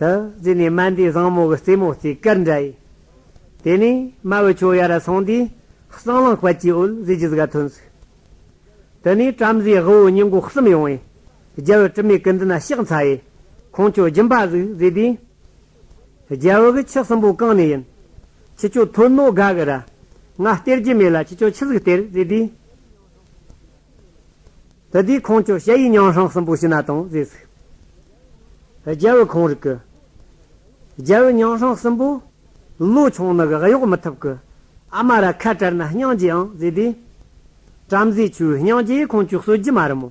དེ་རྗེས་ནས་མན་དེའི་བཟང་མོ་གི་རྩེ་མོ་རྩེ་དཀར་འདྲ་ཡིན། དེ་ནས་རྨ་བོའི་ཆོས་ཡ་ར་སོང་དུས་གསང་ལངས་དཔལ་གྱི་འོད་ཟེར་གྱི་ཟི་ག་ཐོན་ཟིག། དེ་ནས་བྲམ་ཟེའི་དབུལ་བོ་གཉིས་འགོ་གསུམ་ཡོང་བས་རྒྱལ་བོའི་དྲི་མེད་ཀི་འདི་ན་གཤེགས་འཚལ་ཡས་ཁོང་ཁྱོད་སྦྱིན་པ་གཟིགས་ཟེར་དུས། རྒྱལ་བོ་གི་ཁྱི་གསུམ་པོ་གང་ནས་ཡིན། ཁྱི་ཁྱོད་ཐོས་ནོ་དགའ་གི་ར། ང་སྟེར་གྱི་མེད་ལ་ཁྱི་ཁྱོད་ཁྱི་ཟིག་སྟེར་ཟེར་དུས། དེ་དུས་ཁོང་ཅོག་བྱ་ཡིས་ཉང་ཧྲང་གསུམ་པོ་ཕྱི་ན་དང་བཟས་ཚུགས། རྒྱལ་བོ་ཁོང་རིག་གི། རྒྱལ་བོ་ཉང་ཧྲང་གསུམ་པོ། ལོ་ཆུང་ནི་གི་གཡོག་མི་ཐུབ་གི། ཨ་མ་ར་ཁ་བྲལ་ན་སྙིང་རྗེ་ཨང་བཟས་དུས། བྲམ་ཟེ་ཆུའི་སྙིང་རྗེ་ཡིས་ཁོང་ཅོག་གསོད་རྒྱུ་མ་རུ་མོ།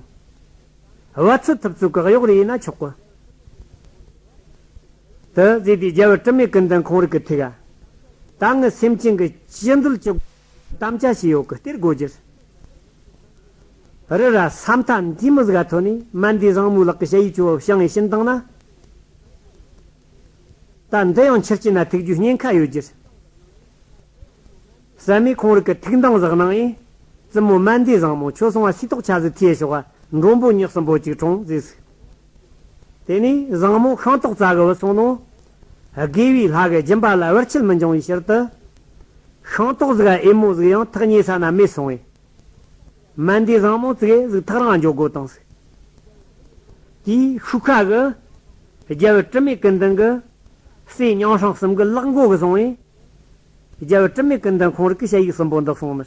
བ་ཚུད་ཐུབ་ཚུལ་གི་གཡོག་རེ་ཡིན་ན་ཆོག་གི། དུ་བཟས་དུས་རྒྱལ་བོ་དྲི་མེད་ཀི་འདི་ཁོང་རིག་གི་ཐུགས། ད་ངའི་སེམས་ཅན་གི་སྐྱི་འཛུལ་གྱི། དམ་བཅའ་བྱས་ཡོད་གི་སྟེར་དགོས་རྒྱུ། རི་ར་ས་མཐའ་འདིའི་མི་གཟའ་ཐོན་ནས་མལ་འདི་བཟང་མོའི་ལག་གི་བྱ་ཡུལ་ཆུ་བོ་བྱང་ངེས་ཤིན་བཏང་ན། ད་འདི་ཡང་ཕྱིར་སྐྱེས་ན་ཐུག་རྒྱུའི་ཉེན་ཁ་ཡོད་རྒྱུ། ཟད་མེད་ཁོང་རིགས་ཀྱི་ཐུགས་འདང་བཞག་གནང་ཨེ། བཙུན་མོ་མལ་འདི་བཟང་མོ་ཁྱོད་སོང་བ་སུས་རྟོགས་ཆ་ཟིག་ཐིས་ཞོག་མགྲོན་པོ་ཉག་གསུམ་པོ་གཅིག་གྲོངས་ཟིག་ཟིག། དེ་ནས་བཟང་མོ་ཤིང་ཏོག་རྩ་གི་བུ་སོང་ནོ། དགེ་བའི་ལྷ་གི་སྦྱིན་པ་ལ་བར་ཆད་མི་འབྱུང་བའི་ཕྱིར་དུ། ཤིང་ཏོག་གཟུགས་ཨེ་མོ་གཟུགས་ཡང་ཐག་ཉེ་ས་ན་མེད་སོང་བས། མན་དེ་བཟང་མོ་གཙིགས་ཨེ་གཟུགས་ཐག་རང་འཇོག་དགོས་དང། དེའི་ཤུགས་ཁ་གི། རྒྱལ་བུ་དྲི་མེད་ཀུན་ལྡན་གྱི། སྲས་ཉང་ཧྲང་གསུམ་གྱི་གླགས་མགོ་གི་སོང་བས། རྒྱལ་བུ་དྲི་མེད་ཀུན་ལྡན་ཁོང་རིགས་ཀྱི་དཔྱད་ཡིག་གསུམ་པོ་འདི་གསུངས་མི།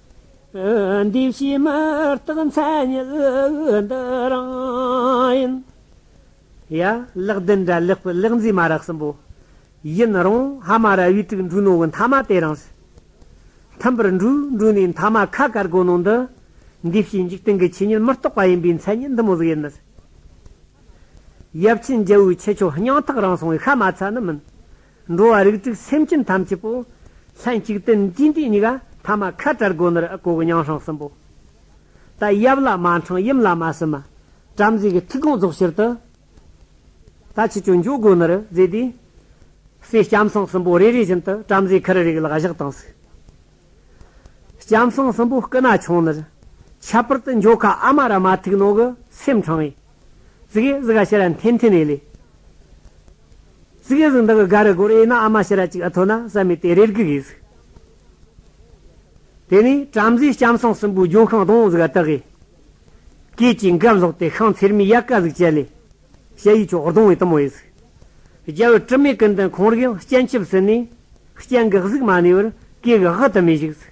འདི་ཕྱིའི་མི་རྟག་མཚན་ཉིད་འདི་རང་ཡིན། ཡ། ལེགས་ལྡན་འདྲ་ལེགས་པའི་ལེགས་མཛེས་མ་རག་གསུམ་པོ། ཡིན་རུང་ཧ་མ་ར་བའི་དྲུག་འབྲུ་ནོར་བུ་མཐའ་མ་དེ་རང་ཞིག། མཐུན་པར་འབྲུ་འབྲུ་ནས་མཐའ་མ་ཁ་དཀར་གོ་ནོར་འདི། འདི་ཕྱིའི་འཇིག་རྟེན་གྱི་ཆོས་ཉིད་མི་རྟོག་པ་ཡིན་པའི་མཚན་ཉིད་འདི་མོ་ཟིག་ཡིན། ཡབ་ཆེན་རྒྱལ་བོའི་ཆེ་ཆུང་སྙིང་ཐག་རང་སོང་བའི་ཤ་མ་ཚ་ནི་མིན། འགྲོ་བ་རིགས་གཅིག་སེམས་ཅན་ཐམས་ཅད་པོ། ལྷན་གཅིག་ཏུ་འདི་འདི་གཉིས་ཀ། ཐ་མ་ཁ་བྲལ་སྒོ་ནི་རི་ཨ་གོ་གི་ཉང་ཧྲང་གསུམ་པོ། ད་ཡབ་ལ་མ་འཕྲང་ཡུམ་ལ་མ་སྲིན་མ། བྲམ་ཟེ་གི་ཐིག་རྐང་རྫོགས་ཕྱིར་དུ། ད་ཆུ་ཆུ་འཇོག་སྒོ་ནི་རི་རྫས་དེ། སྲས་སྐྱམ་སྲང་གསུམ་པོ་རེ་རེ་བཞིན་དུ་བྲམ་ཟེ་ཁར་རིགས་ལག་བཞག་དང་གཟིགས། སྐྱམ་སྲང་གསུམ་པོ་སྐུ་ན་ཆུང་ནི་རི། ཁྱད་པར་དུ་འཇོ་ཁ་ཨ་མ་ར་མ་ཐིག་ནོག་གི་སེམས་འཕྲང་ཡིན། ཟི་གེ་ཟི་ག་ཤེ་ར་འཐེན་འཐེན་ཨེ་ལེ། ཟི་གེ་ཟི་འདི་གི་ག་རེ་གོར་ཨེ་ན་ཨ་མ་ཤེ་ར་ཅིག་ཨ་ཐོ་ན་བསམ་མེད་དེ་རེར་གི་གི་ཟི། དེ་ནས་བྲམ་ཟེ་སྐྱམ་སང་སྲིན་པོའི་ལྗོན་ཤིང་དང་ཟི་ག་དག་གིས། སྐད་ཅིག་འགབ་ལོག་སྟེ་ཤང་ཚེར་མའི་ཡལ་ག་ཟིག་བྱས་ལེ། ཤ་ཡི་ཆོག་རྡུང་བའི་གཏུམ་མོ་ཨེ་ཟི། རྒྱལ་བོའི་དྲི་མེད་ཀུན་ལྡན་ཁོང་རིགས་ཡང་སྐྱེན་ཆུབ་ཟིན་ནས། སྐྱེན་གི་གཟུགས་མ་ནི་བར་སྐྱེས་གི་དབུ་དུ་མས་བཞུགས་ཟི།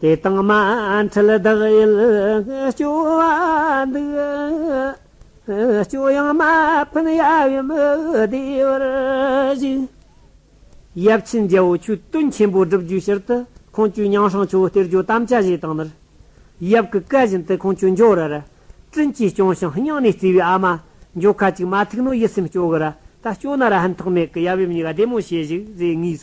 དེ་དང་མ་འཕྲད་བདག་ཡུལ་སྐྱོ་བ་འདུག། སྐྱོ་ཡང་མ་ཕན་ཡབ་ཡུམ་བདེ་བར་གཞུག། ཡབ་ཆེན་རྒྱལ་པོ་ཆོས་སྟོན་ཆེན་པོ་སྒྲུབ་རྒྱུའི་ཕྱིར་དུ་ཁོང་ཁྱོད་ཉང་ཧྲང་ཆོས་གཏེར་ཇོ་དམ་བཅའ་བཞེས་བཏང་ནས། ཡབ་ཀྱི་བཀའ་བཞིན་དུ་ཁོང་ཁྱོད་འཇོ་ར་ར། བཀྲིན་གྱིས་སྐྱོང་ཞིང་སྙིང་ནས་བརྩེ་བའི་ཨ་མ། འཇོ་ཁ་ཅིག་མ་ཐུག་ནོ་ཡིད་སེམས་སྐྱོ་གི་ར་ད་སྐྱོ་ན་ར་ཧན་ཐོག་མེད་ཀི་ཡབ་ཡུམ་གཉིས་ཀ་བདེ་མོ་བྱེད་གཞུག་ཟེར་ངེས།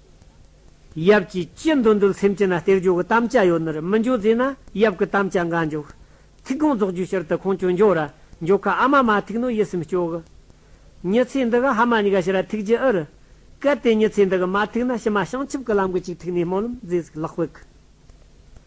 ཡབ་ཀྱིས་ཅི་འདོད་འདོད་སེམས་ཅི་ན་སྟེར་རྒྱུ་གི་དམ་བཅའ་ཡོད་ནོར་མི་འཇོག་རྫས་ན་ཡབ་གི་དམ་བཅའ་འགའ་འཇོག། ཐིག་རྐང་རྫོགས་རྒྱུའི་ཕྱིར་དུ་ཁོང་ཁྱོད་འཇོག་ར་འཇོག་ཁ་ཨ་མ་མ་ཐིག་ནོ་ཡིད་སེམས་སྐྱོ་གི། མྱི་ཚེ་འདི་ག་ཧ་མ་ཉི་ག་ཕྱི་ར་ཐིག་རྒྱུ་ཨི་རི། གལ་ཏེ་མྱི་ཚེ་འདི་གི་མ་ཐིག་ན་ཕྱི་མ་བྱང་ཆུབ་ཀི་ལམ་གི་ཅིག་ཐིག་ནས་སྨོན་ལམ་རྫས་ཟིག་ལག་སྤོད་གི།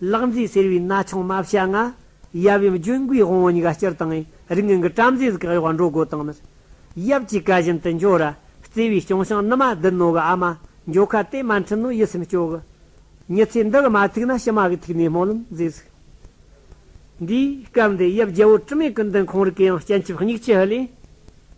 ལག་མཛེས་སེར་བའི་རྣ་ཆུང་རྨ་བྱ་ལྔ། ཡབ་ཡུམ་ལྗོན་ཀུའི་དབང་བོ་ཉི་ག་སྤྱིར་བཏང། རིགས་ངན་གྱི་བྲམ་ཟེ་གཟུགས་ཀྱི་གཡོག་བ་འགྲོ་སྒོ་དང་ནི། ཡབ་ཀྱི་བཀའ་བཞིན་དུ་འབྱོར། བརྩེ་བའི་སྐྱོང་ཞིང་ནི་མ་བདུད་ནོར་བུ་ཨ་མ། འཇོ་ཁ་དེ་མ་འཁྲུལ་ནོ་ཡིད་སེམས་སྐྱོ། ཉི་ཚེ་འདི་གི་མ་ཐུག་ན་ཕྱི་མ་གི་ཐུག་ནས་སྨོན་ལམ་མཛད་གཟིགས། འདིའི་སྐབས་འདི་ཡབ་རྒྱལ་པོ་དྲི་མེད་ཀུན་ལྡན་ཁོང་རིགས་ཀྱི་ཡང་སྤྱན་ཆབ་སྙིགས་ལྕི་ལེན།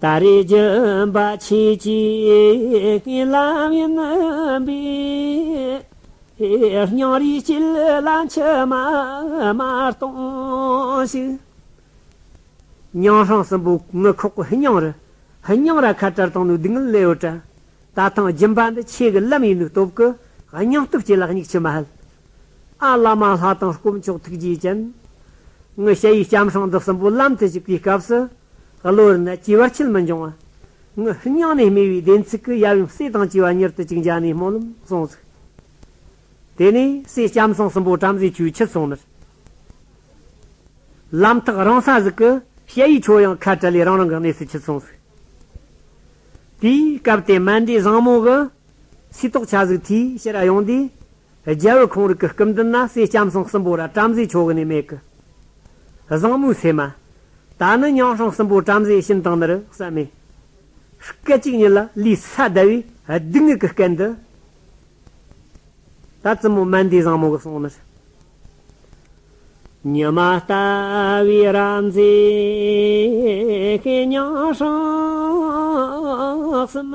ད་རེས་རྒྱུ་འབའ་ཆེ་གཅིག་ལམ་ཡིན་མིན་པའི། སྙིང་རུས་བསྐྱིལ་ལ་མཆི་མ་དམར་གཏོང་ཞིག། སྙིང་ཧྲང་སྲིན་པོ་ངུ་ཁོག་གི་སྙིང་རུས་སྙིང་ར་ཁ་བྲལ་དང་ནུས་སྡུག་ངལ་ལེའུ་བྲལ། ད་ཐེངས་རྒྱུ་འབའ་འདི་ཆེ་གི་ལམ་ཡིན་མིན་སྟོབས་ཀྱི་སྙིང་སྟོབས་སྐྱེ་ལ་སྙིགས་ཆུ་མ་ཧལ་ཨ་བླ་མ་ལྷ་དང་དཀོན་མཆོག་ཐུགས་རྗེའི་སྤྱན། ངའི་ཞལ་ཡིས་བྱམས་ཤིང་འདི་གསུམ་པོ་ལམ་དུ་ཞུགས་པའི་སྐབས་སུ། བློ་རིག་ནི་སྐྱེ་བར་ཆེར་མི་འབྱུང། ངའི་ཧིན་དབྱངས་ནས་སྨྲས་པའི་བདེན་ཚིག་གི་ཡབ་ཡུམ་སྲས་དང་བཅས་པ་མྱུར་དུ་གཅིག་འཇའ་ནས་སྨོན་ལམ་གསུངས་གཟིགས། དེ་ནས་སྲས་སྐྱབས་སེང་གསུམ་པོ་བྲམ་ཟེ་ཆོས་འཆད་ཚོགས་མིར། ལམ་ཐག་རང་ས་ཟིག་གི་ཞལ་ཡིས་ཆོས་དབྱངས་ཁ་བྲལ་ལས་རང་རང་གི་གནས་སུ་ཆུད་གསུངས་གཟིགས། དེའི་སྐབས་དེ་སྨན་འདྲེ་བཟང་མོ་གི། སུས་རྟོགས་བྱ་གཟིགས་དེའི་ཕྱིར་ཡོང་དུས། རྒྱལ་བུ་ཁོང་རིགས་ཀྱི་སྐུ་མདུན་ན་བསེ་སྐྱམ་སྲང་གསུམ་པོ་ར་བྲམ་ཟེའི་ཕྱོགས་གནས་མེད་ཀྱི། བཟང་མོའི་ཚེ་མ། ད་ནི་ཉང་སྲང་གསུམ་པོ་བྲམ་ཟེ་ཤིན་དང་ནི་རུ་ས་མེ། སྐད་ཅིག་ཉིད་ལ་ལུས་ས་བརྡལ་བས་སྡུག་བསྔལ་གྱི་སྐད་འདི། ད་བཙུན་མོ་མན་དེའི་བཟང་མོ་གི་གསུང་ནི། ཉི་མ་ལྟ་བུའི་ར་མཛེས་ཀྱི་ཉང་སྲང་གསུམ།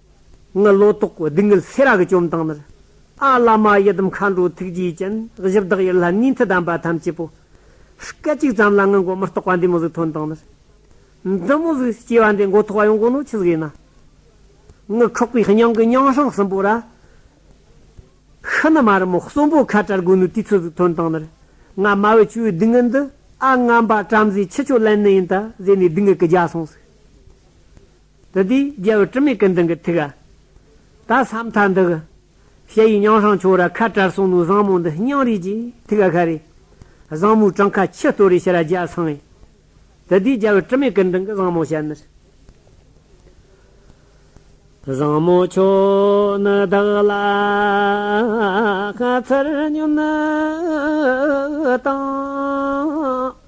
ངི་ལོ་ཏོག་གི་སྡུག་བསྔལ་སེ་ར་གི་བཅོམ་སྟངས་མེར་ཨ་བླ་མ་ཡི་དམ་མཁའ་འགྲོའི་ཐུགས་རྗེའི་སྤྱན་བཞི་བདག་ཡིད་ལྷ་ནུས་མཐུ་ལྡན་པ་ཐམས་ཅད་པོ་སྐད་ཅིག་ཙམ་ལ་ངི་མགོ་མི་རྟོག་པ་འདི་མོ་གཟུགས་ཐོན་སྟངས་མེར་འདི་མོ་གཟུགས་སྐྱེ་བ་འདི་མགོ་ཐོག་བ་ཡོང་གོ་ནོ་ཆི་གཟིགས་ན་ངི་ཁོག་པའི་སྙིང་གི་སྙིང་ཧྲང་གསུམ་པོ་ར་ཤི་ནི་མ་རི་མོ་གསུམ་པོ་ཁ་བྲལ་གོ་ནོ་དུས་ཚོད་གཟུགས་ཐོན་སྟངས་མེར་ང་དམའ་བའི་ཆུ་བོའི་སྡུག་བསྔལ་འདི་ཨ་ང་འབའ་བྲམ་ཟེ་ཁྱི་ཁྱོད་ལན་ནི་ཡིན་ད་ཟེར་ནས་སྡུག་བསྔལ་གི་རྒྱ་སོང་ཟིག། དེ་དུས་རྒྱལ་བུ་དྲི་མེད་ཀུན་དང་གི་ཐུགས། ད་བསམ་མཐའ་འདི་གི། ཞེ་ཡི་མྱང་ཧྲང་ཆོས་ར་ཁ་བྲལ་གསུང་ནོར་བཟང་མོ་འདི་སྙིང་རིས་ཀྱི་ཐུགས་ཀ་ཁ་རེ། བཟང་མོའི་བྲང་ཁ་ཆུ་སྟོད་རེ་ཤི་ར་རྒྱལ་བསང་ཡིན། དེ་དུས་རྒྱལ་བུ་དྲི་མེད་ཀུན་དང་གི་བཟང་མོ་ཞལ་ནི། བཟང་མོ་ཁྱོད་ནི་བདག་ལ་ཁ་ཚར་ཉོན་དང།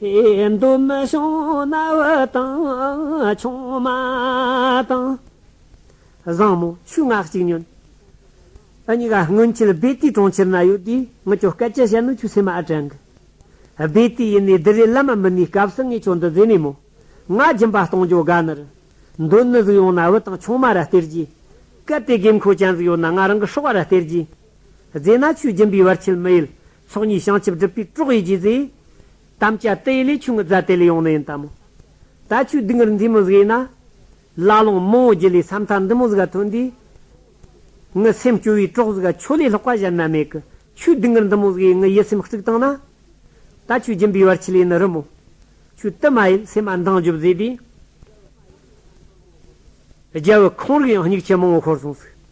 ཡིན་དུ་མི་བྱུང་གནའ་བོའི་དང། ཆུང་མ་དང། བཟང་མོ་ཆུ་ནག་གཅིག་ཉོན། ཨ་ཉི་ག་སྔོན་ཁྱེད་སྦེ་ཏི་གྲོང་ཁྱེར་ན་ཡོད་དུས་ངི་ཁྱོད་སྐད་ཆ་བཤད་ནོ་ཁྱོད་སེམས་མ་ཨ་དྲན་གི། སྦེ་ཏི་ཡིན་ནའི་དི་རི་བླ་མ་མི་ནུས་སྐབས་སུ་ངས་ཁྱོད་འདི་བཟོས་མེད་མོ། ང་སྦྱིན་པ་གཏོང་འཇོག་དགའ་ནི་རི། འདོད་ནི་གཟིགས་ཡོང་གནའ་བོའི་དང་ཆུང་མ་ར་སྟེར་གྱིས། གལ་ཏེ་དགོས་མཁོ་ཅན་ཟིག་ཡོད་ན་ང་རང་གི་ཧྲོག་བ་ར་སྟེར་གྱིས། རྫས་ན་ཆུ་སྦྱིན་པའི་བར་ཆད་མི་ཡོད། ཚོགས་གཉིས་བྱང་ཆུབ་སྒྲུབ་པའི་དྲོག་ཡིད་ཀྱིས་ཟས། དམ་བཅའ་དེ་ཡི་ལས་ཆུང་ངུ་རྫ་དེ་ལས་ཡོང་ནི་ཡིན་ལྟ་མོ། ད་ཆོས་སྡིག་ངར་འཛིན་མི་བཟོད་ཡིན་ན། བླ་ལོངས་མང་བོ་རྒྱུད་ལས་ས་མཐའ་འདི་མོ་ཟིག་ག་ཐོན་དུས། ངི་སེམས་སྐྱོ་བའི་དྲོག་ཟིག་ག་ཆོས་ལས་ལྷག་པ་གཞན་ན་མེད་ཀི་ཆོས་སྡིག་ངར་འདི་མོ་ཟིག་ཡིས་ངི་ཡིད་སེམས་དཀྲུགས་བཏང་ན། ད་ཆོས་སྦྱིན་པའི་བར་ཆད་ལས་ནི་རུ་མོ། ཆོས་དུ་མ་ཡིད་སེམས་ཨ་མདངས་འཇུབ་ཟེར་དུས། རྒྱལ་བུ་ཁོང་རིགས་ཡང་སྙིགས་ཆེ་མང་བོ་ཁོར་སོང་ཟིག།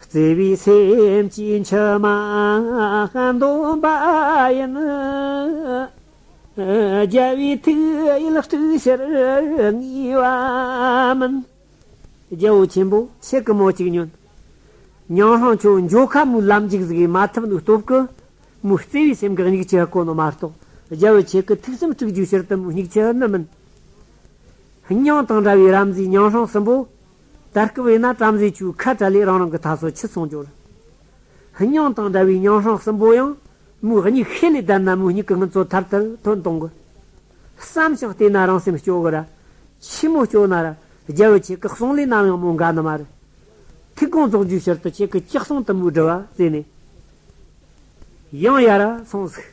བརྩེ་བའི་སེམས་ཀྱི་མཆི་མ་འདོན་པ་ཡིན། རྒྱལ་བའི་ཐུགས་ཡིད་སྤྲུལ་ཕྱིར་ངེས་པ་མིན། རྒྱལ་པོ་ཆེན་པོ་ཆེ་གི་མོ་གཅིག་ཉོན། ཉང་ལྷང་ཁྱོད་མགྱོགས་ཁ་མོའི་ལམ་འཇིགས་གཟིགས་མ་ཐུབ་ནུས་སྟོབས་ཀུན། མོའི་བརྩེ་བའི་སེམས་འགགས་སྙིགས་ཆུ་དཀོན་ནོ་མ་གཏོགས་རྒྱལ་པོ་ཆེ་གི་ཐུགས་སེམས་དཀྲུགས་རྒྱུའི་ཕྱིར་དུ་མོའི་སྙིགས་ཆུ་ནི་མིན། ཉང་དང་འདྲ་བའི་རབ་མཛེས་ཉང་ལྷང་སྲིན་པོ། དར་སྐུ་བས་ན་བྲམ་ཟེ་ཆུའི་ཁ་བྲལ་ལས་རང་རང་གི་ད་སོ་ཆུ་ཚང་འབྱོར། སྙིང་དང་འདྲ་བའི་ཉང་ཧྲང་གསུམ་པོ་ཡང་མོའི་སྙིགས་ཤེས་ལས་བསྡད་ན་མོའི་སྙིགས་ཀྱི་ངལ་རྩོལ་མཐར་ཐུག་དོན་གཏོང་གི། བསམ་ཞིང་བལྟས་ན་རང་སེམས་སྐྱོ་གི་ར། ཕྱི་མོ་སྐྱོ་ན་ར། རྒྱལ་བོ་ཁྱེད་ཀྱི་གསུང་ལས་ནམ་ཡང་མོ་འགའ་ནི་མ་རེད། ཐིག་རྐང་རྫོགས་རྒྱུའི་ཕྱིར་དུ་ཁྱེད་ཀྱི་ཅི་གསུང་དུམ་བུའི་དྲི་བ་བཙལ་ནས། ཡང་ཡར་སོང་ཟིག།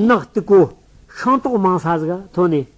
ནག་ཏུ་གོ། ཤིང་ཏོག་མང་ས་ཟིག་ཐོན་ནས།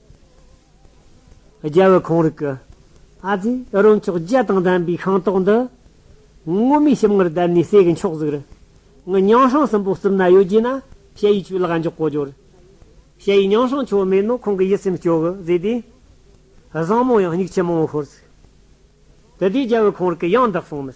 རྒྱལ་བུ་ཁོང་རིགས་ཀྱི་ཨ་ཙི་ཨི་རོ་མཆོག་བརྒྱད་དང་ལྡན་པའི་ཤིང་ཏོག་འདི། སྔོན་མའི་ཞིམ་མངར་བསྡད་ནས་ཟས་ཀྱི་མཆོག་གཟུགས་རིང་ངུ་ཉང་ཧྲང་སྲིན་པོ་གསུམ་ན་ཡོད་རྗེས་ན་ཞེ་ཡི་ཆུ་ལག་འཇོག་གོ་གྱུར། ཞེ་ཡིས་ཉང་ཧྲང་ཆུ་མེད་ནོ་ཁོང་གི་ཡིད་སེམས་སྐྱོ་གི་བཟོས་ཏེ། བཟང་མོ་ཡང་སྙིགས་ཆེན་མང་བོ་ཤོར་ཟིག། དེ་དུས་རྒྱལ་བུ་ཁོང་རིགས་ཀྱི་ཡང་དག་གསུང་མིར་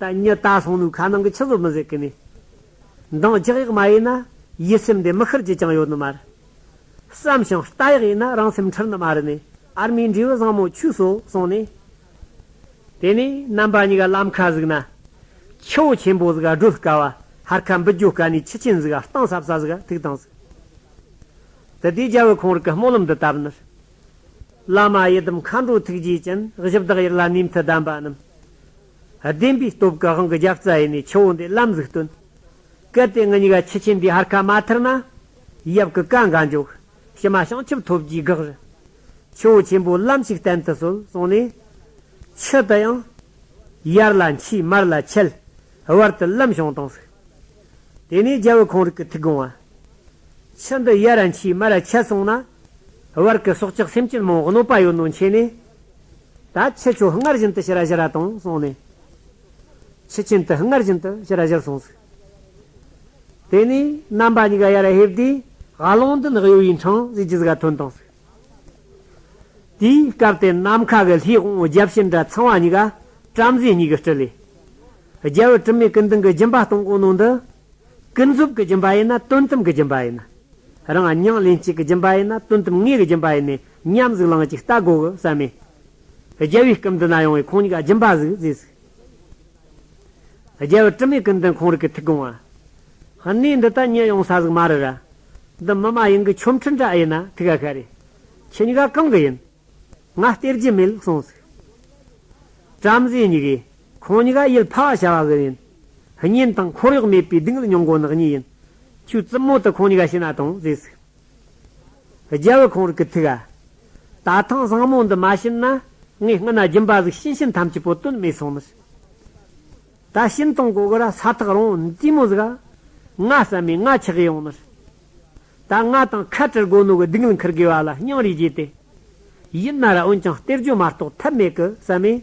ད་ཉི་ད་སོང་ནུ་ཁ་ནང་གི་ཆུ་བཟོ་མི་ཟེར་གི་ནི། འདང་རྒྱག་ཡག་མ་ཡིན་ན་ཡིད་སེམས་དེ་མི་ཤར་གྱི་ཅང་ཡོད་ནི་མ་རེད། བསམ་ཞིང་ལྟ་ཡག་ཡིན་ན་རང་སེམས་འཁྲུལ་ནི་མ་རེད་ནི་ཨར་མིའི་འབྲས་བུ་བཟང་མོ་ཁྱོད་བཟོ་སོང་ནི། དེ་ནི་རྣམ་པ་གཉིས་ཀ་ལམ་ཁ་ཟིག་ན། ཁྱེའུ་ཆེན་པོ་ཟིག་སྒྲོལ་དཀའ་བ་ཧར་ཁ་འབུད་རྒྱུ་དཀའ་ནི་ཁྱི་ཆེན་ཟིག་གཏིང་ཟབ་ས་ཟིག་ཐུག་དང་ཟིག། དེ་དུས་རྒྱལ་བོས་ཁོང་རིགས་ཀྱི་སྨོན་ལམ་འདི་བཏབ་ནི། བླ་མ་ཡི་དམ་མཁའ་འགྲོ་ཐུགས་རྗེའི་སྤྱན། བཞི་བདག་དབྱེར་ལ་ནུས་མཐུ་ལྡན་པ་རྣམས། བདེན་པའི་སྟོབས་ཀྱི་དབང་གི་རྒྱབ་རྩ་ཡེ་ནས་ཆུ་བོ་འདི་བླ་མཛུག་སྟོན། གལ་ཏེ་ངུ་སྙིགས་ཁྱི་ཆེན་འདིའི་ཧར་ཁ་མ་ཐར་ན། ཡབ་ཀྱི་བཀའ་འགའ་འཇོག། ཕྱི་མ་བྱང་ཆུབ་ཐོབ་རྒྱུའི་དགག་རི། ཆུ་བོ་ཆེན་པོའི་བླ་མཆོད་བསྟན་དུ་གསོལ་གསུངས་ནས། ཕྱི་དུ་ཡང། ཡར་ལ་འཁྱིལ་མར་ལ་འཁྱིལ། བར་དུ་བླ་མཆོང་དང་གཟིགས། དེ་ནས་རྒྱལ་བུ་གང་རིགས་ཀྱི་ཐུགས་དགོངས་བ། ཕྱི་འདི་གཡའ་ར་མཆིས་སྨད་ར་ཆད་སོང་ན། བར་གྱི་སྲོག་ཆགས་སེམས་ཅན་མང་གནོད་པ་ཡོད་ནོ་མཁྱེན་ནས། ད་ཁྱེད་ཆོས་སྔར་བཞིན་དུ་ཤི་ར་བཞི་ར་དང་གསུངས་ནས། ཁྱི་གཅན་དུ་སྔར་བཞིན་དུ་ཤི་ར་བཞིར་སོང་ཟིག། དེ་ནས་རྣམ་པ་གཉིས་ཀ་གཡའ་ར་ཧེབ་དེས་དགའ་ལོང་འདི་ནི་གཡོ་བའི་འཕྲང་གཟིགས་ཀྱི་གཟུགས་ཀ་ཐོན་དང་ཟིག། དེའི་སྐབས་དེར་ནམ་མཁའ་གི་ལྷའི་དབང་བོ་བརྒྱ་བྱིན་དྲ་ཚང་བ་གཉིས་ཀ་བྲམ་ཟེ་གཉིས་ཀྱིས་དཀྲི་ལས། རྒྱལ་བུ་དྲི་མེད་ཀུན་ལྡན་གྱི་སྦྱིན་པ་སྟོང་གང་ནང་དུ། ཀུན་རྫོབ་ཀྱི་སྦྱིན་པ་ཡིན་ན་དོན་དམ་གྱི་སྦྱིན་པ་ཡིན། རང་སྙིང་ལན་གཅིག་གི་སྦྱིན་པ་ཡིན་ན་དོན་དམ་ངེས་ཀྱི་སྦྱིན་པ་ཡིན། ཉམས་གཟུགས་ལང་གཅིག་ལྟ་དགོས་ཀྱི་ས་མེད། རྒྱལ་བའི་སྐུ་མདུན་ན་ཡོང་བའི་ཁོང་གཉིས་ཀ་སྦྱིན་པ་གཟུགས་མཛེས་གཟུགས། རྒྱལ་བུ་དྲི་མེད་ཀུན་ལྡན་ཁོང་རིགས་ཀྱི་ཐུགས་དགོངས་བ། གནས་འདི་དག་ཉེ་ཡོང་ས་ཟིག་མ་རེད་ར། འདི་མི་མ་ཡིན་གྱི་ཆོམ་ཁྲི་འདྲ་ཨེ་ཡིན་ན་ཐུགས་ཡ་ཤ་རེད། ཁྱི་ཉི་ག་གང་གི་ཡིན། ང་སྟེར་རྒྱུ་མེད་ལུགས་གསུངས་ཟིག། བྲམ་ཟེ་ཉི་གས། ཁོང་ཉི་ག་ཡུལ་ཕ་བ་བྱ་བ་གི་ཡིན། བརྙན་དང་འཁོར་གཡོག་མེད་པའི་སྡིངས་ལ་ཉོང་དགོ་ནག་ཉེས་ཡིན། ཁྱོས་རྩིབ་མོ་དུ་ཁོང་ཉི་ག་ཤི་ན་དང་ཟེར་ཟིག། རྒྱལ་བུ་ཁོང་རིགས་ཀྱི་ཐུགས། ད་ཐེངས་བཟང་མོ་འདི་མ་བྱིན་ན། ངའི་སྔུན་ན་སྦྱིན་པ་གཟུགས་ཤིང་ཤིང་ཐམས་ཅད་པོ་དོན་མེད་སོང་མོད། ད་ཤིང་སྟོང་གོ་གོ་ར་ས་ཐག་རོང་བཙུན་མོ་ཟིག། ང་བསམ་མེད་ང་ཆགས་ཡོང་མོད། ད་ང་དང་ཁ་བྲལ་དགོས་ནོ་གི་སྡིག་ལ་འཁུར་དགོས་བ་ལ་སྙིང་རེ་རྗེ་སྟེ། ཡིན་ན་ར་འོན་ཀྱང་སྟེར་རྒྱུ་མ་གཏོགས་ཐབས་མེད་གི་བསམ་མེད།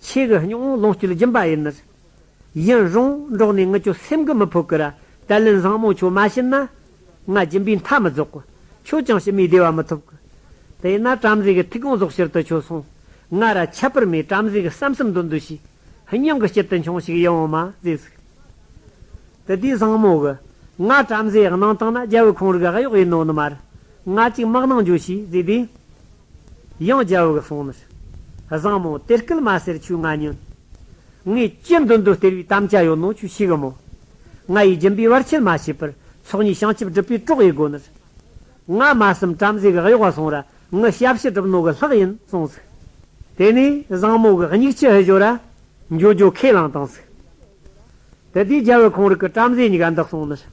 ཆེ་གི་སྙིང་བོ་ལོངས་སྤྱོད་སྦྱིན་པ་ཡིན། ཡིན་རུང་འགྲོགས་ནས་ངུ་ཁྱོད་སེམས་ཀྱི་མི་ཕོད་ཀི་ར་ཏལ་ལན་བཟང་མོ་ཁྱོད་མ་བྱིན་ན། ང་སྦྱིན་པའི་མཐའ་མི་རྫོགས་གི། ཁྱོད་ཀྱང་ཕྱི་མའི་བདེ་བ་མི་ཐོབ་གི། དེས་ན་བྲམ་ཟེ་གི་ཐིག་དགོངས་རྫོགས་ཕྱིར་དུ་ཁྱོད་སོང། ང་ར་ཁྱད་པར་མེད་བྲམ་ཟེ་གི་བསམ་སེམས་འདོད་འདོད་བྱས། སྙིང་གི་དཀྱིལ་དུ་འཕྱོང་ཞིག་ཡིད་འོང་མ་ཟེ་ཟིག། དེ་དུས་བཟང་མོ་གི། ང་བྲམ་ཟེ་གནང་སྟངས་ན་རྒྱལ་བུ་ཁོང་རིགས་གཡོག་ཡིན་ནོ་ནི་མ་རེད། ང་ཅིག་དམག་ནང་འགྱོ་ཞིག་ཟེ་དེས། ཡང་རྒྱལ་བུ་གི་གསུང་མི་ཤེས། བཟང་མོ་དེ་སྐད་མ་ཟེར་ཁྱོས་ང་བསྙོན། ངས་ཅི་འདོད་འདོད་སྟེར་བའི་གཏམ་ཅི་ཡོད་ནོ་ཁྱོས་ཤེས་གི་མོད། ང་ཡི་སྦྱིན་པའི་བར་ཆད་མ་བྱས་པར་ཚོགས་གཉིས་བྱང་ཆུབ་སྒྲུབ་པའི་གྲོགས་ཡིན་དགོས་ནི། ང་མ་གསུམ་བྲམ་ཟེ་གི་གཡོག་བ་སོང་ར་ངུ་ཞབས་ཕྱི་གྲུབ་ནོ་གི་ལྷག་ཡིན་གསུངས་ཟིག། དེ་ནས་བཟང་མོ་གི་སྙིགས་ཕྱི་ཧི་ཞོ་ར་འཇོ་འཇོ་ཁས་བླངས་བཏང་ཟིག། དེ་དུས་རྒྱལ་བུ་ཁོང་རིགས་ཀི་བྲམ་ཟེ་གཉིས་ཀ་འདི་གསུང་མི་ཤེས།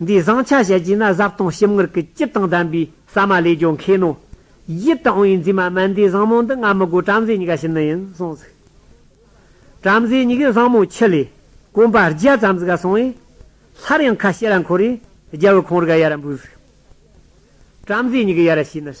འདིའི་བཟང་ཆ་བཤད་ཀྱིན་ན་བཟའ་བཏུང་ཞིམ་མངར་གྱི་སྐྱིད་དང་ལྡན་པའི་ཟ་མ་ལས་ཀྱང་མཁས་ནོ། ཡིད་དུ་འོང་བའི་མཛེས་མ་སྨན་ཟླའི་བཟང་མོ་འདི་ང་མི་དགོས་བྲམ་ཟེ་གཉིས་ཀ་ཞི་ནི་ཡིན་གསུངས་ཚུལ། བྲམ་ཟེ་གཉིས་ཀས་བཟང་མོ་ཁྱི་ལས་གོམ་པ་བརྒྱ་ཙམ་ཟིག་ག་སོང་བས། སླར་ཡང་ཁ་ཕྱེ་ལ་འཁོར་བས་རྒྱལ་བུ་ཁོང་རི་ག་ཡར་འབུད་ཟིག། བྲམ་ཟེ་གཉིས་ཀས་ཡར་ཕྱིན་ནས།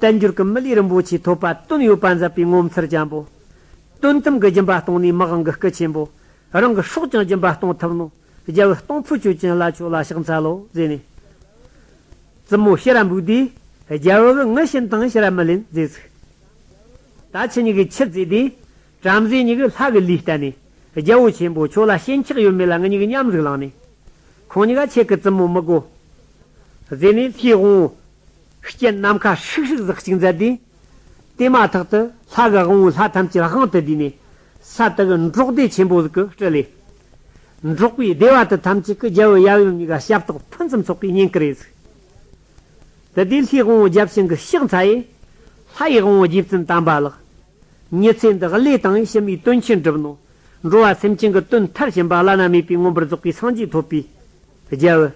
བསྟན་འགྱུར་གྱི་མི་ལུས་རིན་པོ་ཆེ་ཐོབ་པ་དོན་ཡོད་པ་མཛད་པའི་ངོ་མཚར་ཅན་པོ། དོན་དམ་གྱི་སྦྱིན་པ་གཏོང་ནུས་མི་དབང་གི་སྐུ་ཆེན་པོ། རང་གི་སྲོག་ཀྱང་སྦྱིན་པ་གཏོང་ཐུབ་ནོ། རྒྱལ་བུ་སྟོང་ཕོད་ཆོས་ཅན་ལ་ཆོས་ལ་ཕྱག་འཚལ་ལོ། ཟེར་ནས། བཙུན་མོ་ཤེས་རབ་འབུགས་དེས། རྒྱལ་བུ་གྱི་ངུ་ཤིན་དང་ཤེས་རབ་མི་ལེན་རྫས་ཚུགས། ད་ཁྱི་གཉིས་ཀྱི་ཁྱི་རྫས་དེས། བྲམ་ཟེ་གཉིས་ཀྱི་ལྷ་གི་ལུས་བསྟན་ནས། རྒྱལ་བུ་ཆེན་པོ་ཁྱོད་ལ་ཞེན་ཆགས་ཡོད་མེད་ལ་ངེད་གཉིས་ཀྱི་མཉམ་གཟུགས་བླངས་ནས། ཁོང་གཉིས་ཀ་ཁྱེད་ཀྱི་བཙུན་མོ་མི་དགོ། ཟེར་ནས་ལྷའི་དབང། རྐྱེན་ནམ་མཁའ་ཧྲིག་ཧྲིག་ཟག་གཅིག་མཛད་དེ། དེ་མ་ཐག་ཏུ་ལྷ་དགའ་དབང་བོའི་ལྷ་ཐམས་ཅད་དབང་དུ་བསྡུས་ནས། ས་དག་གི་འབྲོག་སྡེ་ཆེན་པོ་གཟུགས་ཀྱི་སྤྲུལ་ལས། འབྲོག་པའི་སྡེ་བ་དག་ཐམས་ཅད་ཀྱི་རྒྱལ་པོའི་ཡབ་ཡུམ་གཉིས་ཀ་ཞབས་ཏོག་ཕུན་སུམ་ཚོགས་པའི་སྙིང་གར་གཟིགས། དེ་དུས་ལྷའི་དབང་བོ་བརྒྱ་བྱིན་གྱི་ཤག་འཚལ། ལྷའི་དབང་བོ་རྗེ་བཙུན་དམ་པ་ལགས། ཉི་ཚེ་འདི་བློས་བཏང་ཡིད་བྱེད་མའི་དོན་ཆེན་སྒྲུབས་ནོ། འགྲོ་བ་སེམས་ཅན་གྱི་དོན་མཐར་ཕྱིན་པ་བླ་ན་མེད་པའི་མངོན་པར་རྫོགས་པའི་སངས་རྒྱས་ཐོབ་པའི་རྒྱལ།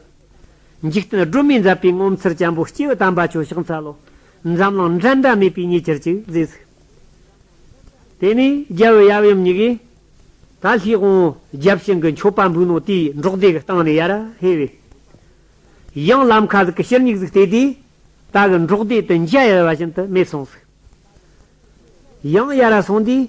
འཇིག་རྟེན་སྒྲོན་མེ་འཛབ་པའི་ངོ་མཚར་བྱམས་པོ་སྐྱེ་བོ་དམ་པ་ཁྱོད་ཕྱག་འཚལ་ལོ། འཛམ་གླིང་འགྲན་ཟླ་མེད་པའི་ཉེ་ཆར་གྱི་རྫས་ཟིག། དེ་ནས་རྒྱལ་བོའི་ཡབ་ཡུམ་གཉིས་ཀས། ད་ལྷའི་དབང་བོ་རྒྱབ་ཤིང་གི་མཆོད་པ་འབུལ་ནོ་དེའི་འབྲོག་སྡེ་གི་སྟེང་ནས་ཡར་ཧེ་བས། གཡང་ལམ་ཁ་ཟིག་གི་ཕྱིར་སྙིགས་ཟིག་བལྟས་ཏེ། ད་གི་འབྲོག་སྡེ་དུ་འཇའ་ཡལ་བ་བཞིན་དུ་མེད་སོང་ཟིག། གཡང་ཡར་སོང་དུས།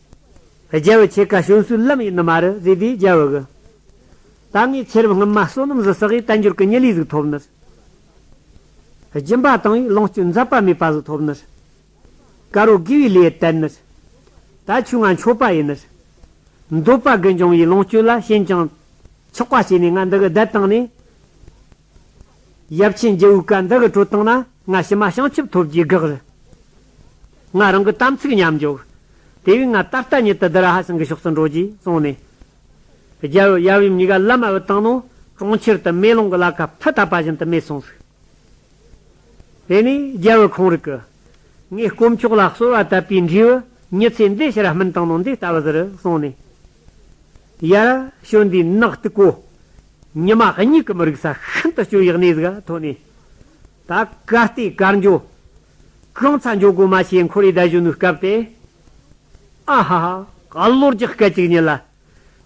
རྒྱལ་བའི་ཆེ་ཁ་ཞུན་སུལ་ལམ་ཡིན་ནི་མ་རི་ཟི་དེའི་རྒྱལ་བུ་གི། ད་ངའི་ཚེ་རབས་སྔོན་མ་བསོད་ནམས་བཟི་བསགས་ཡི་དལ་འགྱུར་གི་ཉི་ལི་ཟིག་ཐོབ་ནི་རེད། སྦྱིན་པ་དང་ཡི་ལོངས་སྤྱོད་མཛད་པ་མེད་པ་ཟིག་ཐོབ་ནི་རེད། དཀར་བོ་དགེ་བའི་ལས་བསྟན་ནི་རེད། ད་ཆུ་ང་མཆོད་པ་ཡིན་ནི་རེད། འདོད་པ་དགུན་ཆང་ཡི་ལོངས་སྤྱོད་ལ་ཞེན་ཅིང། ཆགས་པ་བྱས་ནས་ང་འདི་གི་བརྡལ་བཏང་ནས། ཡབ་ཆེན་རྒྱལ་བོའི་བཀའ་འདི་གི་བྲོ་སྟངས་ན་ང་ཕྱི་མ་བྱང་ཆུབ་ཐོབ་རྒྱུའི་དགག་རེད། ང་རང་གི་དམ་ཚིག་ཉམས་འཇོག་དེ་བས་ང་ད་ལྟ་ཉིད་དུ་བདུད་ར་ཧ་སེང་གི་ཕྱོགས་སུ་འགྲོ་རྒྱུའི་བསམ་ནས། རྒྱལ་བོ་ཡབ་ཡུམ་གཉིས་ཀ་བླ་མ་བོའི་སྟེང་ནང་གྲོང་ཁྱེར་དུ་མེ་ལོང་གི་བླ་ཁབ་ཐིག་བཏབ་པ་བཞིན་དུ་མེད་སོང་ཟིག། དེ་ནས་རྒྱལ་བོའི་ཁོང་རིག་གི། ངས་དཀོན་མཆོག་ལ་གསོལ་བ་བཏབ་པའི་འབྲས་བུ་ཉི་ཚེ་འདི་ཕྱིར་སྨིན་སྟངས་ནང་འདི་ལྟ་བུ་ཟེར་གསུངས་ནས། ཡར་ཞོན་དུས་ནག་སྟུག་པོ། ཉི་མ་གཉིད་ཀྱི་མི་རིག་ས་ཤིན་ཏུ་སྐྱོ་ཡག་གནས་གཟིགས་ཐོག་ནས། ད་གར་ལྟས་གར་འགྱོ། གང་ཚ་འགྱོ་གོ་མ་བྱས་འཁོར་ཡུག་ཟླ་གཞོན་ནུའི་སྐབས་ཏེ། ཨ་ཧ་ཧ། ག་ལོར་གྱི་སྐད་ཅིག་ཉིད་ལ།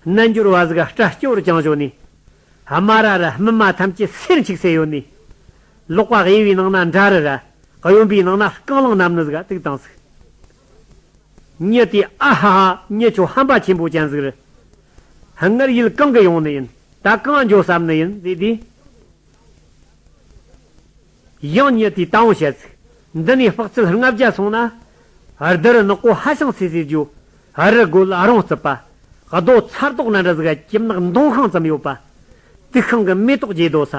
རྣལ་འབྱོར་བ་གཟིགས་སྐྲ་སྐྱོ་རུ་བཅངས་བྱོ་ནས། དམའ་ར་ར་སྨིན་མ་ཐམས་ཅད་སེར་འཁྱིག་སེ་ཡོ་ནས། ལོག་པ་གཡས་པའི་ནང་ན་འདྲ་རི་ར། གཡོན་པའི་ནང་ན་རྐང་ལང་རྣམས་ནི་གཟིགས་དུག་དང་གཟིགས། མཉེས་ཏེ་ཨ་ཧ་ཧ་མཉེས་ཆོག་ཧམ་པ་ཆེན་པོ་ཅན་ཟིག་རེད། ཧ་སྔར་ཡུལ་གང་གི་ཡོང་ནི་ཡིན་ད་གང་འགྱོ་བསམ་ནི་ཡིན་ཟེར་དུས། ཡང་མཉེས་ཏེ་ད་འོང་བྱེད་ཚིག་འདི་ནས་དཔག་ཚད་ལྔ་བརྒྱ་སོང་ན། རྡི་རུ་ནག་པོ་ཧ་ཤང་སེ་སེ་རྒྱུ། ཨ་རི་དགོད་ཨ་རོང་རྩིད་པ། རྡོ་ཚ་རྟོག་ན་འདྲ་ཟིག་ཨ་ཀྱིབ་ནག་མདོང་ཤང་ཙམ་ཡོད་པ། དུག་ཤང་གི་མེ་ཏོག་རྒྱས་རྡོ་ས་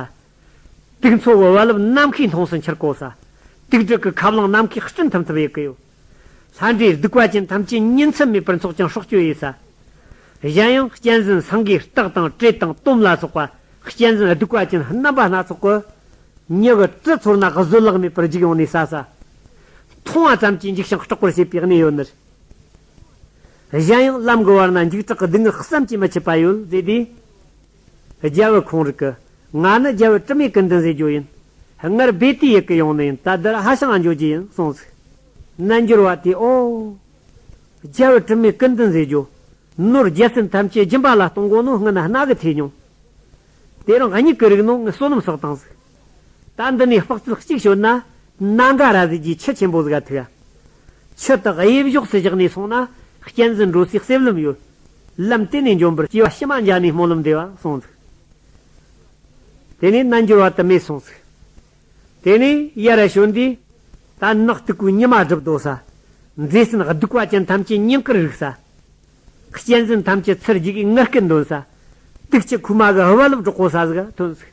དུག་མཚོ་བོད་བ་ལུབ་ནམ་མཁའི་མཐོངས་སུ་འཁྱིལ་གོ་ས། དུག་དྲུག་གི་ཁ་བསླང་ནམ་མཁའི་སྤྲིན་ཐུམ་ཐུམ་གཡུག་གི་ཡོད། ལྷ་འདྲེའི་གདུག་པ་ཅན་ཐམས་ཅད་གཉིས་འཚམས་མེད་པར་མཚོག་ཀྱང་སྲོག་གཅོད་ཡོད་ས། གཞན་ཡང་གཅན་གཟན་སངས་རྒྱས་སྟག་དང་བྲེ་དང་དོམ་ལ་སོགས་པ་གཅན་གཟན་གདུག་པ་ཅན་རྣམ་པ་སྣ་ཚོགས་ཀྱིས། མྱི་གི་གྲི་ཚོར་ན་བཟོད་གླགས་མེད་པར་འཇིགས་ཡོང་ནས་ས་ས། མཐོང་བ་ཙམ་གྱིས་འཇིགས་ཤིང་སྐྲག་པར་བྱེད་པའི་གནས་ཡོད་ནི། གཞན་ཡང་ལམ་གྱི་བར་ན་འཇིགས་སྐྲག་གི་སྡུག་བསྔལ་བསམ་གྱིས་མི་ཁྱབ་པ་ཡོད། ཟེར་དུས། རྒྱལ་བུ་ཁོང་རིག་གི། ང་ནི་རྒྱལ་བུ་དྲི་མེད་ཀུན་ལྡན་ཟས་སྦྱོར་ཡིན། སྔར་སྦས་དུས་ཡི་གེ་ཡོང་ནི་ཡིན་ད་བདར་ཧ་ཞང་ཨ་འབྱོར་གྱི་ཡིན་གསུངས་ཚིག། རྣལ་འབྱོར་བ་དེས་ཨོ། རྒྱལ་བུ་དྲི་མེད་ཀུན་ལྡན་ཟས་སྦྱོར། ནོར་རྒྱལ་སེམས་ཐམས་ཅད་སྦྱིན་པ་ལ་གཏོང་དགོངས་ནོ་སྔུན་ན་སྣག་གི་ཐེས་མྱོང། དེ་རང་ཉིད་ཀྱི་རིག་ནོ་ངས་བསོད་ནམས་བསགས་དང་གཟིགས། ད་འདི་ནས་དཔག་ཚུལ་གཅིག་ཤོད་ན། སྣ་འགའ་ར་ཟིག་གིས་ཁྱི་ཆེན་པོ་ཟིག་ག་ཐུག་ཡ། ཁྱི་དག་གཡས་བཞོགས་སུ་བཞག་ནས་སོང་ན། གཅན་གཟན་འགྲོ་སའི་གསེབ་ལམ་ཡོད། ལམ་བསྟན་ནས་འཇོམས་པར་སྐྱེ་བ་ཕྱི་མ་འཇགས་ནས་སྨོན་ལམ་འདེབས་པ་སོང་ཚུལ། དེ་ནས་རྣལ་འབྱོར་བ་དུ་མས་སོང་ཚུལ། དེ་ནས་ཡར་ར་ཞོན་ཏེ། དར་ནག་སྟུག་པོའི་ཉི་མ་སྒྲིབ་བདོ་ས། མཛེས་ཟིན་གདུག་པ་ཅན་ཐམས་ཅད་སྙིང་གར་རིག་ས། གཅན་གཟན་ཐམས་ཅད་ཚུར་འཇུག་གིས་ངར་སྐད་འདོན་ས། དུག་ལྕི་ཁུག་མ་གི་ཧི་བ་ལུབ་གྲོག་པོ་ས་ཟིག་ཐོན་ཚུལ།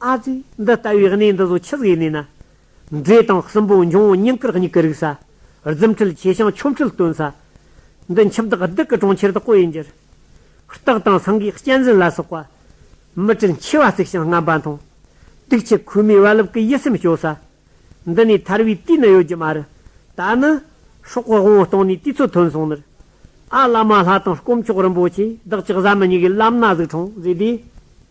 ཨ་ཙི། འདི་ལྟ་བུའི་གནས་འདི་བཟོ་ཆི་ཟིག་གནས་ན། འབྲས་དང་སྲིན་པོ་འབྱུང་བོ་སྙིང་དཀར་སྙིགས་ཀྱི་རིགས་ས། རྫུན་ཁྲིལ་ཆེ་ཞིང་ཆོམ་ཁྲིལ་སྟོན་ས། འདི་འཆི་བདག་སྡིག་གི་གྲོང་ཁྱེར་དུ་བསྐོ་ཡི་འགྱུར། སྟག་དང་སེང་གེའི་སྤྱན་ཟིན་ལ་སོགས་པ། མི་དྲུག་མཆེ་བ་གཙིགས་ཤིང་རྔམ་པ་མཐོང། དུག་ཆུ་ཁོལ་མའི་བ་ལུབ་ཀྱི་ཡིད་སེམས་སྐྱོ་ས། འདི་ནས་ཐར་བའི་དུས་ནི་ཡོད་ཀྱི་མ་རེད། ད་ནི། སྲོག་གི་དབང་བོ་སྟོང་ནས་དུས་ཚོད་ཐུན་སོང་ནི། ཨ་བླ་མ་ལྷ་དང་སྐོམ་ཆོག་རིན་པོ་ཆེ་བདག་ཅག་བཟའ་མི་ཉན་གྱི་བླ་མ་ན་ཟུག་འཕྲང་བཟོས་དུས།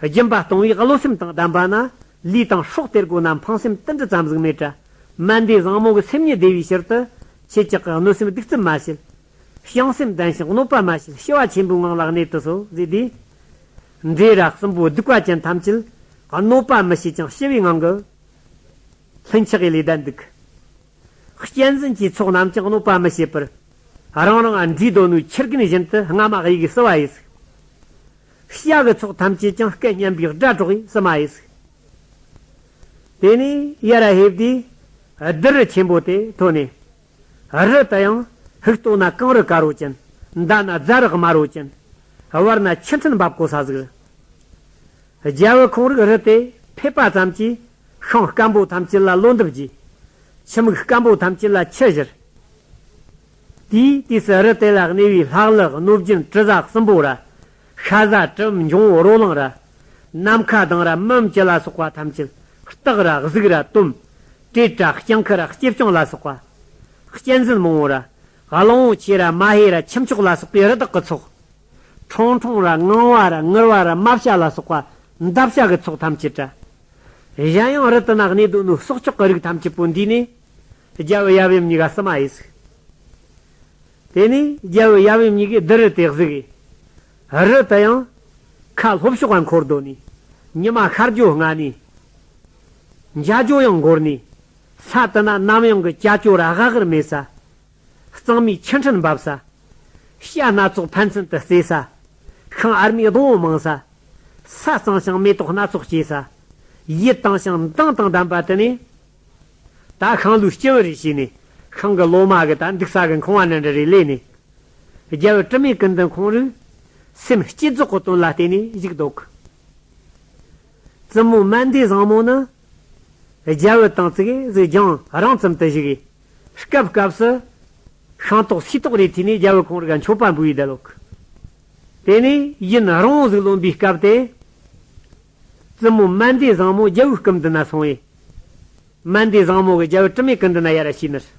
སྦྱིན་པ་གཏོང་བའི་བློ་སེམས་དང་ལྡན་པ་ན། ལུས་དང་སྲོག་སྟེར་སྒོ་ན་འཕང་སེམས་ཏིལ་འབྲུ་ཙམ་གཟུགས་མེད་བཀྲ། སྨན་ཟླའི་བཟང་མོ་གི་སེམས་ཉིད་བདེ་བའི་ཕྱིར་དུ། ཁྱེད་ཅག་གིས་གནོད་སེམས་སྡིག་རྩུབ་མ་བྱེད། བྱང་སེམས་ལྡན་ཞིང་གནོད་པ་མ་བྱེད་ཞི་བ་ཆེན་པོའི་ངང་ལ་གནས་དུ་གསོལ། ཟས་དེས། འདྲེ་ར་གསུམ་པོ་གདུག་པ་ཅན་ཐམས་ཅད། གནོད་པ་མི་བྱེད་ཅིང་ཞི་བའི་ངང་གིས། ལྷུན་ཆགས་ཀྱི་ལས་བདག་འདུག། གཅན་གཟན་གྱི་ཚོགས་རྣམས་ཀྱང་གནོད་པ་མི་བྱེད་པར། རང་རང་ཨ་མྲའི་གདོད་ནུས་ཕྱིར་གྱིན་བཞིན་དུ་སྔ་མ་དབྱིག་གི་སྲི་བ་ཡིས་བསུས། ཤ་བའི་ཚོགས་ཐམས་ཅད་ཀྱང་སྐད་སྙན་པའི་སྒྲ་སྒྲོགས་ཡིས་སྲི་མ་ཡིས་བསུས། དེ་ནས་ཡར་ཧེབ་སྟེ་རྡུལ་རི་ཆེན་པོ་དེ་ཐོས་ནས། རི་དེ་ཡང་ཧིག་ཏོ་ན་གངས་རི་དཀར་བོ་ཅན། མདའ་ན་རྫ་རི་དམར་བོ་ཅན། བར་ན་ཆུ་འཕྲིན་འབབ་གོ་ས་ཟིག། རྒྱལ་བུ་ཁོང་རིགས་རི་དེ་ཕེབས་པ་ཙམ་གྱིས། ཤིང་སྐམ་པོ་ཐམས་ཅད་ལ་རླུང་འདེབས་བགྱི། ཕྱི་མིག་སྐམ་པོ་ཐམས་ཅད་ལ་ཕྱི་བཞིར་བགྱི། དུས་སུ་རི་དེ་ལ་གནས་པའི་ལྷག་ལྷུག་གནོད་སྦྱིན་དྲི་ཟ་གསུམ་པོ་ར། ཤ་ཟ་དྲི་འབྱུང་རོ་ལངས་ར། ནམ་མཁའ་དང་ར་སྨིན་བཅུ་ལ་སོགས་པ་ཐམས་ཅད་སྟག་ར་གཟིག་ར་དུམ། བྲེད་ར་སྐྱང་ཁུ་ར་སྐྱེས་སྐྱང་ལ་སོགས་པ། སྐྱེད་འཛིན་མང་བོ་ར། གླང་བོ་ཆེ་ར་མ་ཧེ་ར་ཁྱུ་མཆོག་ལ་སོགས་པའི་རི་དྭགས་ཀྱི་ཚོགས། ཁྲོང་ཁྲོང་ར་ངང་བ་ར་ངུར་བ་ར་རྨ་བྱ་ལ་སོགས་པ་འདབ་བྱ་གི་ཚོགས་ཐམས་ཅད་བྲལ། གཞན་ཡང་རི་དུ་ནགས་གནས་སྡོད་ནོར་སོགས་ལྕོག་གི་རིགས་ཐམས་ཅད་པོ་འདུས་ནས། རྒྱལ་བུ་ཡབ་ཡུམ་གཉིས་ཀ་བསུ་མ་ཧེ་གཟིགས། དེ་ནས་རྒྱལ་བུ་ཡབ་ཡུམ་གཉིས་ཀས་རྡུལ་རི་དེ་གཟིགས། རི་དེ་ཡང། ཁ་ལྷོ་ཕྱོགས་བར་འཁོར་བརྡོལ་ནས། ཉི་མ་ཤར་རྒྱུ་སྔ་ནས། འཇའ་ལྗོངས་ཡང་འགོར་ནས། ས་དེ་ན་ནམ་ཡང་གི་ཀྱ་ཀྱོ་ར་ཧ་ཧར་མེད་ས། གཙང་མའི་ཆུ་འཕྲིན་འབབ་ས། བྱ་སྣ་ཚོགས་ཕན་ཚུན་དུ་རྩེ་ས། ཤིང་ཨར་མའི་སྡོང་བོ་མང་ས། ས་གཙང་ཞིང་མེ་ཏོག་སྣ་ཚོགས་སྐྱེས་ས། ཡིད་དང་ཞིང་མདངས་དང་ལྡན་པ་དེ་ནི། ད་ཤང་ལོའི་སྤྱི་བོ་རེ་བྱས་ནས་ཤང་གི་ལོ་མ་གི་ད་འདུག་ས་གི་མཁང་བ་ནི་འདྲ་རེ་ལས་ནས། རྒྱལ་བོ་དྲི་མེད་ཀུན་འདུལ་ཁོང་རུས། སེམས་བསྐྱེད་རྫོགས་སྐུ་དོན་ལ་བརྟེན་ནས་གཞུག་བཟློག། བཙུན་མོ་སྨན་ཟླའི་བཟང་མོ་ནི། རྒྱལ་བོ་དང་གཙུག་གཟིགས་རྒྱང་རིང་ཙམ་དུ་བཞུགས། སྐབས་སྐབས་སུ། ཤིང་ཏོག་སུས་ཏོག་རེ་ཐོས་ནས་རྒྱལ་བོ་གངས་རིའི་མཆོད་པ་འབུལ་བའི་དལ་འཁོར། དེ་ནས་ཡུན་རིང་བོ་ཟིག་ལོན་པའི་སྐབས་དེ། བཙུན་མོ་སྨན་ཟླའི་བཟང་མོ་རྒྱལ་བོའི་སྐུ་མདུན་ན་སོང་བས། སྨན་ཟླའི་བཟང་མོ་གིས་རྒྱལ་བོ་དྲི་མེད་སྐུ་མདུན་ན་ཡར་ར་ཞུས་ནས།